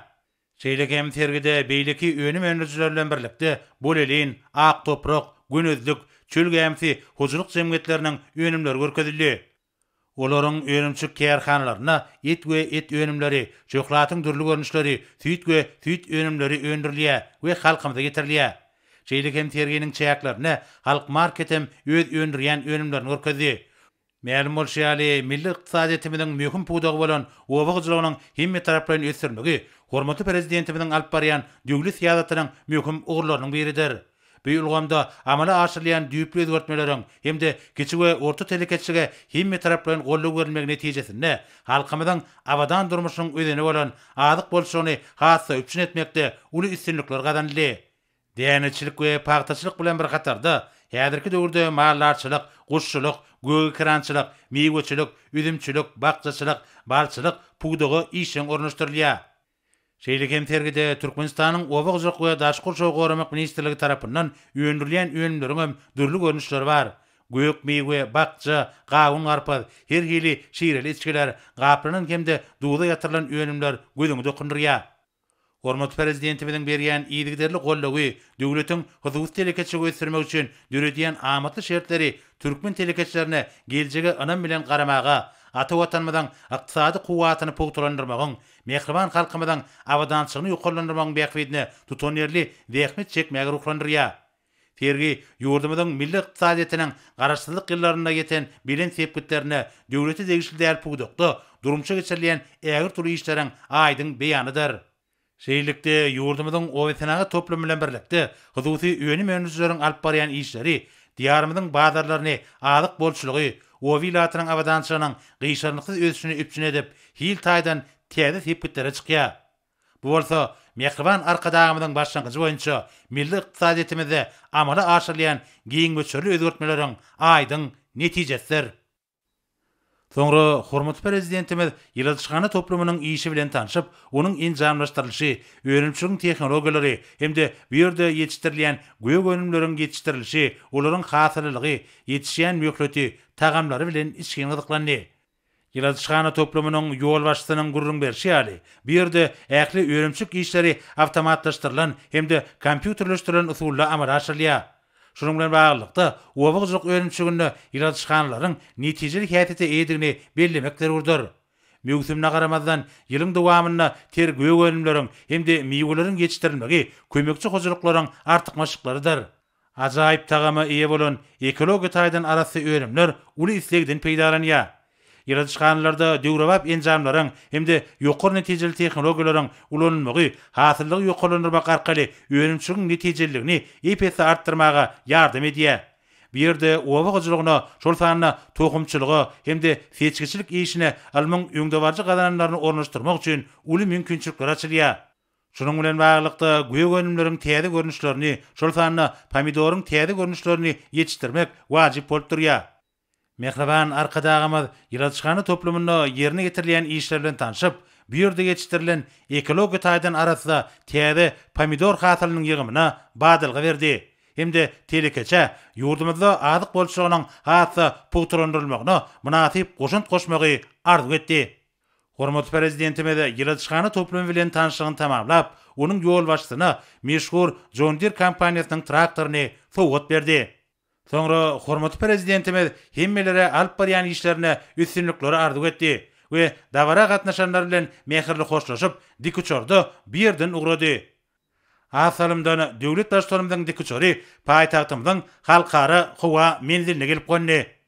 Şeýle hem sergide beýleki önüm öndürijiler bilen birlikde Bolelin, Ak toprak, Gönezlik, Çöl gämisi hojalyk jemgyýetleriniň önümleri görkezildi. Olaryň önümçilik kärhanalarynda et we et önümleri, şöhlatyň dürli görnüşleri, süýt we süýt önümleri öndürilýär we halkymyza getirilýär. Şeýle hem serginiň çäklerinde Halk market hem öz öndürýän önümlerini görkezdi. Mälim bolşy ýaly, milli ykdysadyýetimiziň möhüm pudagy bolan oba hojalygynyň hemmetaraplaýyn ösdürilmegi hormatly Prezidentimiziň alyp barýan döwlet syýasatynyň möhüm ugurlarynyň biridir. Bu ulgamda amala aşyrylýan düýpli özgertmeleriň hem-de kiçi we orta telekeçilige hemmetaraplaýyn goldaw berilmegi netijesinde halkymyzyň abadan durmuşynyň özeni bolan azyk bolçulygyny has-da üpjün etmekde uly üstünlikler gazanyldy. Däneçilik we pagtaçylyk bilen bir hatarda, häzirki döwürde maldarçylyk, guşçulyk, gögekerançylyk, miweçilik, üzümçilik, bakjaçylyk, balçylyk pudagy işjeň ornaşdyrylýar. Şeýle hem sergide Türkmenistanyň Oba hojalyk we daşky gurşawy goramak ministrligi tarapyndan öndürilýän önümleriň hem dürli görnüşleri bar. Gök miwe, bakja, gawun-garpyz, her hili şireli içgiler, gaplanan hem-de duza ýatyrylan önümler gözüňi dokundyrýar. Hormatly Prezidentimiziň berýän yzygiderli goldawy, döwletiň hususy telekeçiligi ösdürmek üçin döredýän amatly şertleri türkmen telekeçilerine geljege ynam bilen garamaga, ata Watanymyzyň ykdysady kuwwatyny pugtalandyrmagyň, mähriban halkymyzyň abadançylygyny ýokarlandyrmagyň bähbidine tutanýerli zähmet çekmäge ruhlandyrýar. Sergi ýurdumyzyň milli ykdysadyýetiniň Garaşsyzlyk ýyllarynda ýeten belent sepgitlerine döwlete degişli däl pudakda durmuşa geçirilýän ägirt uly işleriň aýdyň beýanydyr. Şeýlelikde, ýurdumyzyň obasenagat toplumy bilen birlikde hususy önüm öndürijileriň alyp barýan işleri Diýarymyzyň bazarlaryny azyk bolçulygy, Oba ilatynyň abadançylygynyň gyşarnyksyz ösüşini üpjün edip, hil taýdan täze sepgitlere çykýar. Bu bolsa mähriban Arkadagymyzyň başlangyjy boýunça milli ykdysadyýetimizde amala aşyrylýan giň möçberli özgertmeleriň aýdyň netijesidir. Soňra hormatly Prezidentimiz ýyladyşhana toplumynyň işi bilen tanşyp, onuň enjamlaşdyrylyşy, önümçiligiň tehnologiýalary hem-de bu ýerde ýetişdirilýän gök önümleriň ýetişdirilişi, olaryň hasyllylygy, ýetişýän möhleti, tagamlary bilen içgin gyzyklandy. Ýyladyşhana toplumynyň ýolbaşçysynyň gürrüň berşi ýaly, bu ýerde ähli önümçilik işleri awtomatlaşdyrylan hem-de kompýuterleşdirilen usulda amala aşyrylýar. Şunuň bilen baglylykda, oba hojalyk önümçiliginde ýyladyşhanalaryň netijeli häsiýete eýedigini bellemek zerurdyr. Möwsümine garamazdan, ýylyň dowamynda ter gök önümleriň hem-de miweleriň ýetişdirilmegi kömekçi hojalyklaryň artykmaçlyklarydyr. Ajaýyp tagama eýe bolan ekologiýa taýdan arassa önümler uly islegden peýdalanýar. Ýyladyşhanalarda döwrebap enjamlaryň hem-de ýokary netijeli tehnologiýalaryň ulanylmagy hasyllygy ýokarlandyrmak arkaly önümçiligiň netijeliligini ep-esli artdyrmaga ýardam edýär. Bu ýerde oba hojalygyna, şol sanda tohumçylyga hem-de seçgiçilik işine ylmyň öňdebaryjy gazananlaryny ornaşdyrmak üçin uly mümkinçilikler açylýar. Şunuň bilen baglylykda, gök önümleriň täze görnüşlerini, şol sanda pomidoryň täze görnüşlerini ýetişdirmek wajyp bolup durýar. Mähriban Arkadagymyz ýyladyşhana toplumynda ýerine ýetirilýän işler bilen tanşyp, bu ýerde ýetişdirilen ekologiýa taýdan arassa täze pomidor hasylynyň ýygymyna badalga berdi hem-de telekeçä ýurdumyzda azyk bolçulygynyň has-da pugtalandyrylmagyna mynasyp goşant goşmagy arzuw etdi. Hormatly Prezidentimiz ýyladyşhana toplumy bilen tanyşlygyny tamamlap, onuň ýolbaşçysyna meşhur John Deere kompaniýasynyň traktoryny sowgat berdi. Soňra hormatly Prezidentimiz hemmelere alyp barýan işlerinde üstünlikleri arzuw etdi we dabara gatnaşanlar bilen mähirli hoşlaşyp, dikuçarda bu ýerden ugrady. Az salymdan döwlet Baştutanymyzyň dikuçary paýtagtymyzyň Halkara howa menziline gelip gondy.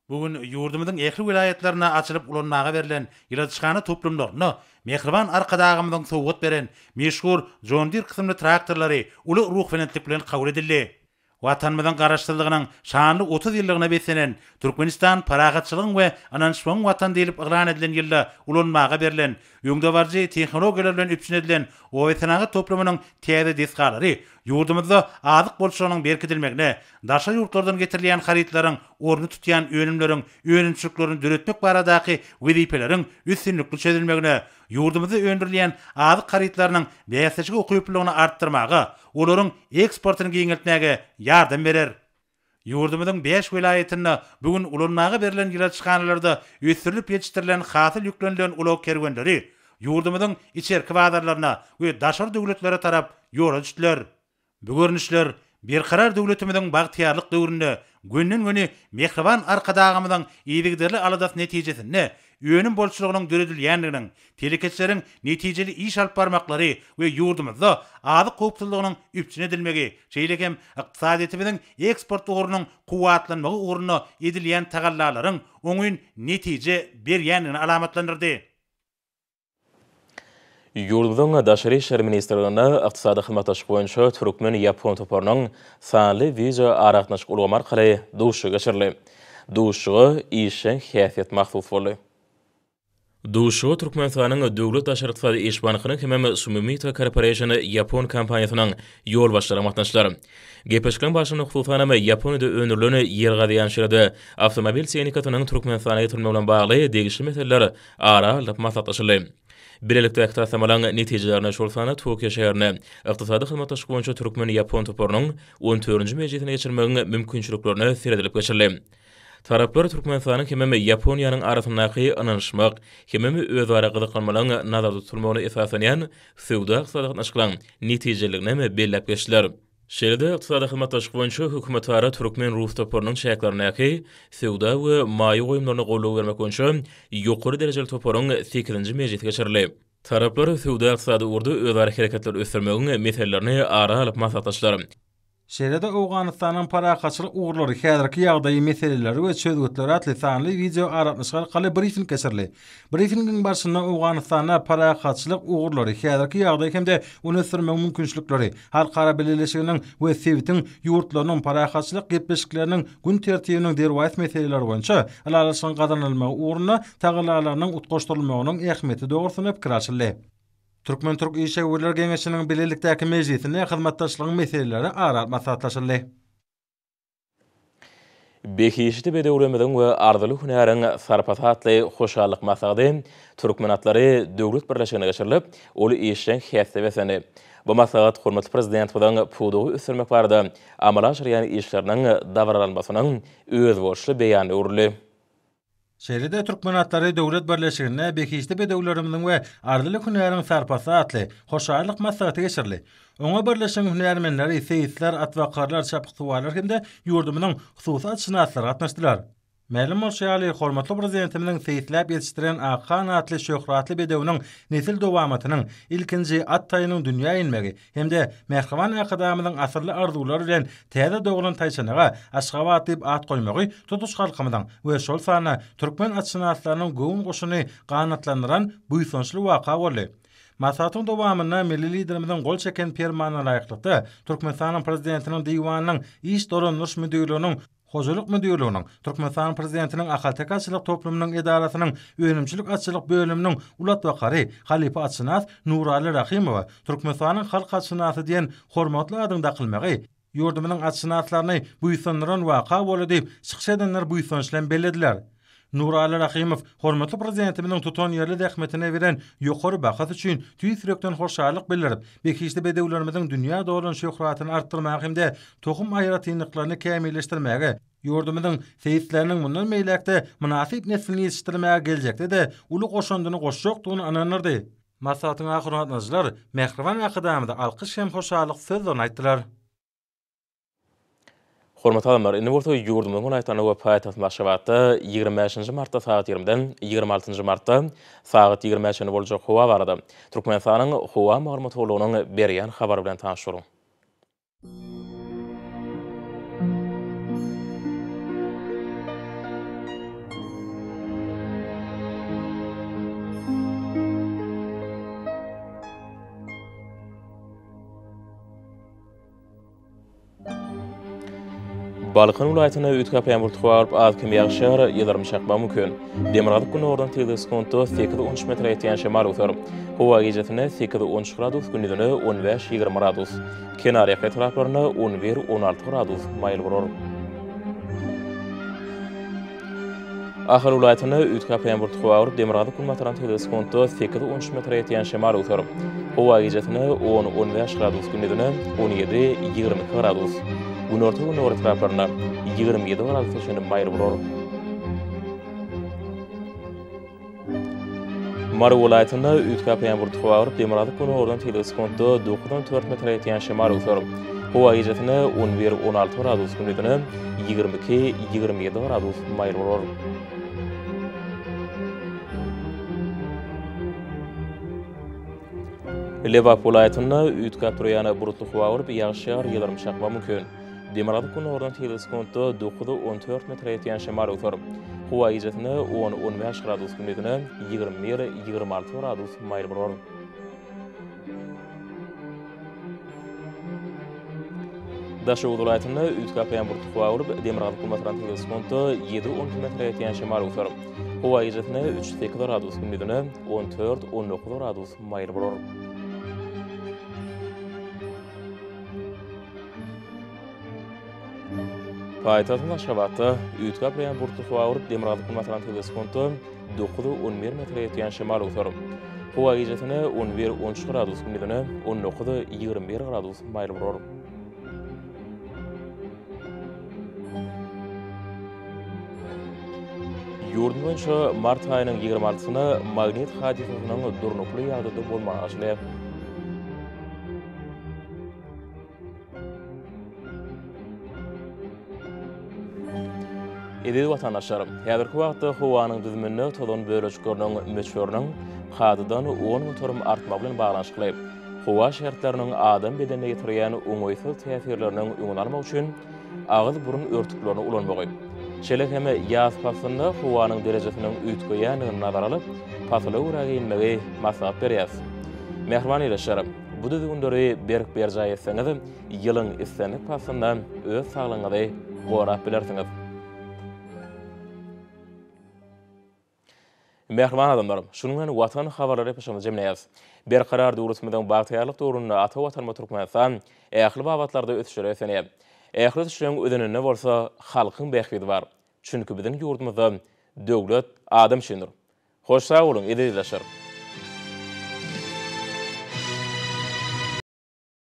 Bu gün ýurdumyzyň ähli welaýatlarynda açylyp ulanmaga berlen ýyladyşhana toplumlarynda mähriban Arkadagymyzyň sowgat beren meşhur John Deere kysymly traktorlary uly ruhubelentlik bilen kabul edildi. Watanymyzyň Garaşsyzlygynyň şanly otuz ýyllygyna beslenen Türkmenistan parahatçylygyň we ynanyşmagyň Watany diýlip yglan edilen ýylda ulanmaga berlen Öňdebaryjy tehnologiýalar bilen üpjün edilen obasenagat toplumynyň täze desgalary ýurdumyzda azyk bolçulygynyň berkidilmegine, daşary ýurtlardan getirilýän harytlaryň ornuny tutýan önümleriň önümçiliklerini döretmek baradaky wezipeleriň üstünlikli çözülmegine, ýurdumyzda öndürilýän azyk harytlarynyň bäsleşige ukyplylygyny artdyrmaga, olaryň eksportyny giňeltmäge ýardam berer. Ýurdumyzyň bäş welaýatynda bu gün ulanmaga berlen ýyladyşhanalarda ösdürilip ýetişdirilen hasyl ýüklenilen ulag kerwenleri ýurdumyzyň içerki bazarlaryna we daşary döwletlere tarap ýola düşdüler. Bu görnüşler Berkarar döwletimiziň bagtyýarlyk döwründe gönden-göni mähriban Arkadagymyzyň yzygiderli aladasy netijesinde önüm bolçulygynyň döredilýändiginiň, telekeçileriň netijeli iş alyp barmaklary we ýurdumyzda azyk howpsuzlygynyň üpjün edilmegi, şeýle hem ykdysadyýetimiziň eksport ugrunyň kuwwatlanmagy ugrunda edilýän tagallalaryň oňyn netije berýändigini alamatlandyrdy. Ýurdumyzyň Daşary işler ministrliginde Ykdysady hyzmatdaşlyk boýunça türkmen-ýapon toparynyň sanly wideoaragatnaşyk ulgamy arkaly duşuşygy geçirildi. Duşuşyga işjeň häsiýet mahsus boldy. Duşuşyga Türkmenistanyň Döwlet daşary ykdysady iş bankynyň hemem Sumimito Corporation ýapon kompaniýasynyň ýolbaşçylary gatnaşdylar. Gepleşikleriň barşynda hususanam Ýaponiýada öndürilen ýergazy ýançeride awtomobil tehnikasynyň Türkmenistana getirilmegi bilen bagly degişli meseleler ara alnyp maslahatlaşyldy. Bilelikdäki taslamalaryň netijelerine, şol sanda Tokio şäherinde Ykdysady hyzmatdaşlyk boýunça türkmen-ýapon toparynyň on dördünji mejlisini geçirmegiň mümkinçiliklerine seredilip geçildi. Taraplar Türkmenistanyň hemem Ýaponiýanyň arasyndaky ynanyşmak hemem özara gyzyklanmalaryň nazarda tutulmagyna esaslanýan söwda-ykdysady gatnaşyklaryň netijeliliginem belläp geçdiler. Şeýle-de Ykdysady hyzmatdaşlyk boýunça hökümetara türkmen-rus toparynyň çäklerindäki Söwda we maýa goýumlaryna goldaw bermek boýunça ýokary derejeli toparyň sekizinji mejlisi geçirildi. Taraplar söwda-ykdysady ugurda özara hereketleri ösdürmegiň meselelerini ara alyp maslahatlaşdylar. Şeýle-de Owganystanyň parahatçylyk ugurlary, häzirki ýagdaýy, meseleleri we çözgütleri atly sanly wideoaragatnaşyk arkaly brifing geçirildi. Brifingiň barşynda Owganystanda parahatçylyk ugurlary, häzirki ýagdaý hem-de ony ösdürmegiň mümkinçilikleri, halkara bileleşiginiň we sebitiň ýurtlarynyň parahatçylyk gepleşikleriniň gün tertibiniň derwaýys meseleleri boýunça ylalaşygyň gazanylmagy ugrunda tagallalarynyň utgaşdyrylmagynyň ähmiýeti dogrusynda pikir alşyldy. Türkmen-türk işewürler geňeşiniň bilelikdäki mejlisinde hyzmatdaşlygyň meseleleri ara alyp maslahatlaşyldy. Behişdi bedewlerimiziň we arzyly hünäriň sarpasy atly hoşallyk maslahaty Türkmen atlary döwlet birleşiginde geçirilip, ol işjeň häsiýete beslendi. Bu maslahat hormatly Prezidentimiziň pudagy ösdürmek barada amala aşyrýan işleriniň dabaralanmasynyň özboluşly beýanyna öwrüldi. Şeýle-de Türkmen atlary döwlet birleşiginde Behişdi bedewlerimiziň we Arzyly hünäriň sarpasy atly hoşallyk maslahaty geçirildi. Oňa birleşigiň hünärmenleri, seýisler, atbakarlar, çapyksuwarlar hem-de ýurdumyzyň hususy atşynaslary gatnaşdylar. Mälim bolşy ýaly, hormatly Prezidentimiziň seýisläp ýetişdiren Akhan atly şöhratly bedewiniň nesil dowamatynyň, ilkinji at taýynyň dünýä inmegi, hem-de Mähriban Arkadagymyzyň asylly arzuwlar bilen täze doglan taýçanaga Aşgabat diýip at goýmagy tutuş halkymyzyň we şol sanda türkmen atşynaslarynyň göwün guşuny ganatlandyran buýsançly waka boldy. Maslahatyň dowamynda Milli Liderimiziň gol çeken Permanyna laýyklykda, Türkmenistanyň Prezidentiniň Diwanynyň Iş dolandyryş müdirliginiň Hojalyk müdirliginiň, Türkmenistan Prezidentiniň Ahalteke atçylyk toplumynyň edarasynyň önümçilik atçylyk bölüminiň ulat bakary, halypa atşynas Nuraly Rahymowa Türkmenistanyň halk atşynasy diýen hormatly adyň dakylmagy ýurdumyzyň atşynaslaryny buýsandyran waka boldy diýip, çykyş edenler buýsanç bilen bellediler. Nuraly Rahymow hormatly Prezidentimiziň tutanýerli zähmetine beren ýokary bahasy üçin tüýs ýürekden hoşallyk bildirip, behişdi bedewlerimiziň dünýä dolan şöhratyny artdyrmaga hem-de tohum aýratynlyklaryny kämilleşdirmäge, ýurdumyzyň seýisleriniň mundan beýläk-de mynasyp neslini ýetişdirmäge geljekde-de uly goşandyny goşjakdygyny ynandyrdy. Maslahatyň ahyrynda gatnaşyjylar mähriban Arkadagymyza alkyş hem hoşallyk sözlerini aýtdylar. Hormatly adamlar, indi bolsa ýurdumyzyň welaýatlarynda we paýtagtymyz Aşgabatda ýigrimi bäşinji martda sagat ýigrimiden ýigrimi altynjy martda sagat ýigrimä çenli boljak howa barada Türkmenistanyň Howa maglumat gullugynyň berýän habary bilen tanyş boluň. Balkan welaýatynda üýtgäp ýagyr tutup, az-kem ýagyşar, ýyldyrym çakmagy mümkin. Demirgazyk-gündogardan tygza sekuntda sekiz-on üç metre ýetýän şemal öser. Howa gijasynda sekiz-on üç gradus, gündizine on bäş-ýigrimi gradus. Kenarýaka etraplarynda on bir-on alty gradus maýyl bolar. Ahal welaýatynda üýtgäp ýaňbur tutup agyryp, demirgazyk-günbatardan tizligi sekuntda sekiz-on üç metre ýetýän şemal öwser. Howa gijesine on-on bäş gradus, gündizine on ýedi-ýigrimi iki gradus, günorta-gündogar etraplarynda ýigrimi ýedi gradusa çenli maýyl bolar. Mary welaýatynda üýtgäp ýagan ýaňbur topa agyryp, demirgazyk güni oradan tegelek sekuntda dokuzdan dört metre ýetýän şemal öwser. Howa gijesine on bir, on alty gradus, gündizine ýigrimi iki, ýigrimi ýedi gradus maýyl bolar. Lebap welaýatynda üýtgäp turýan bulutly howa bolup, ýagyş ýagar, ýyldyrym çakmagy mümkin. Demirgazyk gündogardan sekiz sekuntda dokuza on dört metre ýetýän şemal öwser. Howa gijesine on, on bäş gradus, gündizine ýigrimi bir, ýigrimi alty gradus maýyl bolar. Daşoguz welaýatynda üýtgäp ýaňbyrty howa bolup, demirgazyk-günbatardan sekiz sekuntda ýedi-on iki metre ýetýän şemal öwser. Howa gijesine üç, sekiz gradus, gündizine on dört, on dokuz gradus maýyl bolar. Paýtagtymyz Aşgabatda üýtgäp urýan bulutly howa bolup, demirgazyk basaran tüýs sekunta dokuz, on bir metre ýetýän şemal öwser. Howa gijesine on bir, on üç gradus, gündizine on dokuz, ýigrimi bir gradus maýyl bolar. Ýurdumyz boýunça mart aýynyň ýigrimi altysyna magnit hadysasynyň durnukly ýagdaýda bolmagy açylyp, Eziz watandaşlarym, häzirki wagtda howanyň düzüminde tozan bölejikleriniň möçberiniň kadadan on göterim artmagy bilen baglanyşykly, howa şertleriniň adam bedenine ýetirýän oňaýsyz täsirleriniň öňüni almak üçin agyz-burun örtüklerini ulanmagy, şeýle hem ýaz paslynda howanyň derejesiniň üýtgeýändigini nazara alyp, pasyla görä geýinmegi maslahat berýäris. Mähriban ildeşlerim! Bu düzgünleri berk berjaý etseňiz, ýylyň islendik paslynda öz saglygyňyzy gorap bilersiňiz. Mähriban adamlar, şunuň bilen Watan habarlary epişimizi jemleýäris. Berkarar döwletimiziň bagtyýarlyk döwründe ata Watanymyz Türkmenistan ähli babatlarda ösüşlere beslenýär. Ähli ösüşleriň özeninde bolsa halkyň bähbidi bar. Çünki biziň ýurdumyzda döwlet adam üçindir. Hoş sag boluň ezizlaşar.